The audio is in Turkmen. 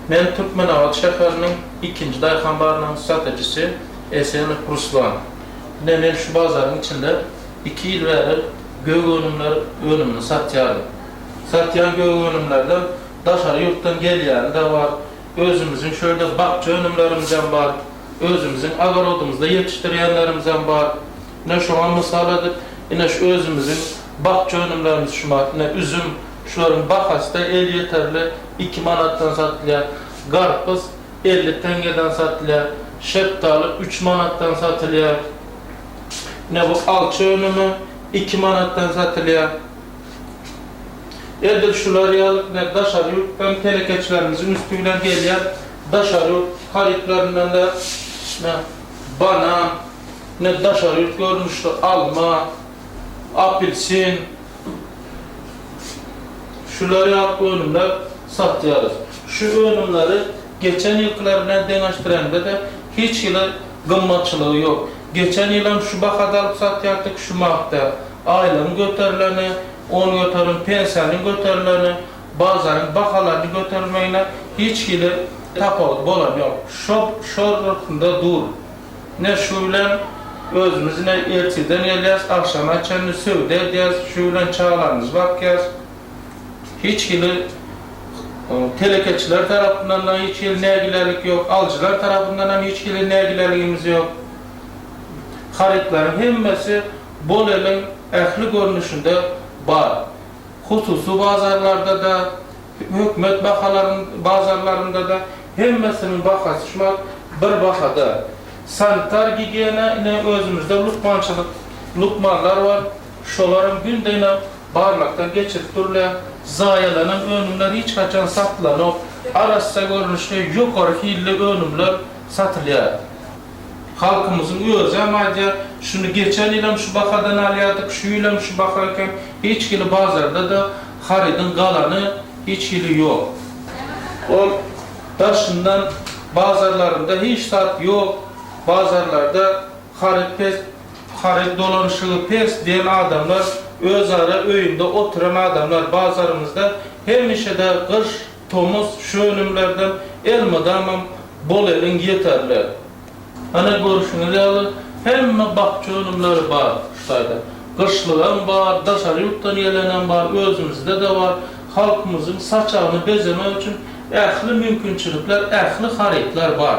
Men Türkmenabat şäheriniň ikinji daýhan barynyň satyjysy Esenow Ruslan. Ine, men şu bazaryň içinde iki ýyl bäri gök önümler önümini satýaryn. Satýan gök önümlerden daşary ýurtdan gelýäni-de bar, özümiziň şu ýerde bakja önümlerimizem bar, özümiziň ogorodymyzda ýetişdirýänlerimizem bar. Ine, şoňa mysal edip, ine, şu özümiziň bakja önümlerimiz şular, ine, üzüm, Şularyň bahasy-da elýeterli, iki manatdan satylýar. Garpyz elli teňňeden satylýar. Şepdaly üç manatdan satylýar. Ine, bu alça önümi iki manatdan satylýar. Edil şular ýaly ine, daşary ýurtdan telekeçilerimiziň üsti bilen gelýän daşary ýurt harytlaryndan-da, ine, banan, ine, daşary ýurt görnüşli alma, apelsin, Şular ýaly önümler satýarys. Şu önümleri geçen ýylkylar bilen deňeşdireňde-de hiç hili gymmatçylygy ýok. Geçen ýylam şu bahada alyp satýardyk, şu magda. Aýlygyň göterileni, on göterim pensiýanyň göterileni, bazaryň bahalaryny göterilmegine hiç hili tapawut bolan ýok. Şo şo ruhunda dur. Ine, şu bilen özümiz ine ertirden gelýäs, agşama çenli söwda edýäs, şu bilen çagalarymyzy bakýas. Hiç hili telekeçiler tarapyndan-da hiç hili nägilelik ýok, alyjylar tarapyndan hem hiç hili nägileligimiz ýok. Harytlaryň hemmesi Boleliň ähli görnüşinde bar. Hususy bazarlarda-da. Hökümet bahalaryň bazarlarynda-da hemmesiniň bahasy şu wagt bir bahada. Sanitar gigiýena ine özümizde lukmançylyk lukmanlar bar, şolaram günde-ine barlakdan geçirip durulýar. Zaýalanan önümler hiç haçan satylanok, arassa görnüşde ýokary hilli önümler satylýar. Halkymyzyň özem aýdýar, şuny geçen ýylam şu bahadan alýardyk, şu ýylam şu baha eken, hiç hili bazarda-da harydyň galany hiç hili ýok. Ol daşyndan bazarlarynda hiç zat ýok, bazarlarda haryt pes, haryt dolanyşygy pes diýen adamlar özara öýünde oturan adamlar, bazarymyzda hemişe-de gyş, Tomus şu önümlerden elmydamam bolelin ýeterli. Ana görüşiňiz ýaly hemme bakja önümleri bar şu taýda. Gyşlygam bar, daşary ýurtdan gelenem bar, özümizde-de bar. Halkymyzyň saçagyny bezemek üçin ähli mümkinçilikler, ähli harytlar bar.